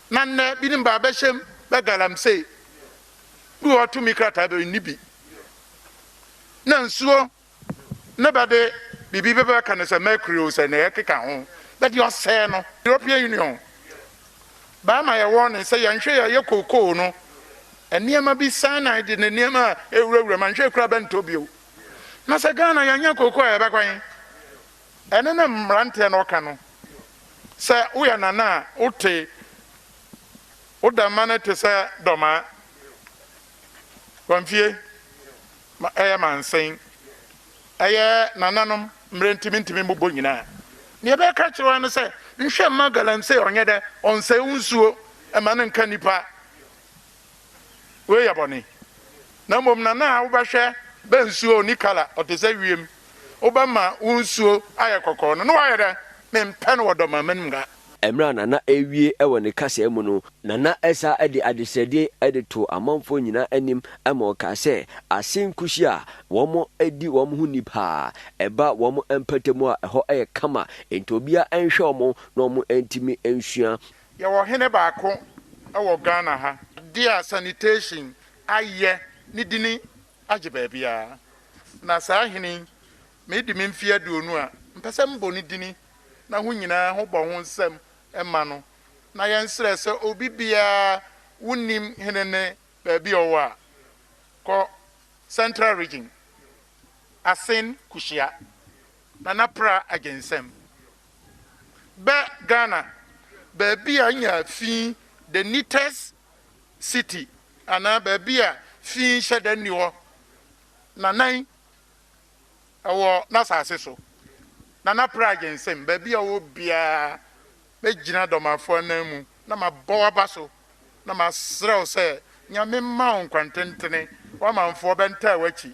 Na nnɛ binom baa bɛhyɛm bɛ galamsey, bi wɔ hɔ tumi krataa bɛ nni bi, na nsuo ne bɛde biribi bɛ bɛka no sɛ mercury o sɛ nea ɛkeka ho bɛde ɔsɛɛ no. European Union baa ma yɛ warning sɛ yɛnhwɛ yɛ yɛ kookoo no nneɛma bi cyanide de ne nneɛma a ɛwura wura mu anhwɛ kura bɛntɔ bio na sɛ Ghana yɛnyɛ kookoo a yɛbɛkɔ he? Ɛno na mmeranteɛ no ka no. Sɛ woyɛ nana a, wote wo dɛmma no te sɛ dɔmaa. Wamfie ma ɛyɛ mansen. Ɛyɛ nananom mmerɛ nti mentumi mmobɔ nyinaa. Deɛ ɛbɛka akyerɛ wo ara ne sɛ, nhwɛ mma galamsey ɔnyɛ dɛ, ɔnsɛe wo nsuo, mma no nka nnipa. Wei yɛ bɔne. Na mmom na na wobɛhwɛ bɛ nsuo a ɔnni kala, ɔte sɛ wiem. Wobɛma wo nsuo ayɛ kɔkɔɔ no, na woayɛ dɛn? Mempɛ no wɔ dɔmma m'anim da. Mmerɛ a Nana rewie wɔ ne kasaa mu no, Nana san de adesrɛdeɛ de too amanfoɔ nyinaa anim ma ɔkaa sɛ, Ase nkusi a wɔdi wɔn ho ni pa ara. Ɛba wɔn mpatamu a, ɛhɔ yɛ kama, enti obiara nhwɛ wɔn na wɔntumi nsua. Yɛwɔ hene baako wɔ Ghana ha. Dea sanitation ayɛ ne dini agye baabiara na saa hene yi medi me mfeɛ aduonu a mpɛsɛ mbɔ ne dini na ho nyinaa ho bɔ ho nsɛm ma no na yɛn srɛ sɛ obi biara wo nim hene ne baabi ɔwɔ a kɔ central region asen kuhyia nana pra agye nsɛm bɛ Ghana baabi a nya fi the neatest city anaa baabi a fi nhyɛ da nni hɔ nanan wɔ n'asase so, Nana Pragye nsam, baabi a ɔwɔ biara mɛgyina Dɔmafoɔ anan mu na mabɔ w'aba so na masrɛ wo sɛ Nyame mma wo nkwantentene, w'amanfoɔ bɛntaa w'akyi.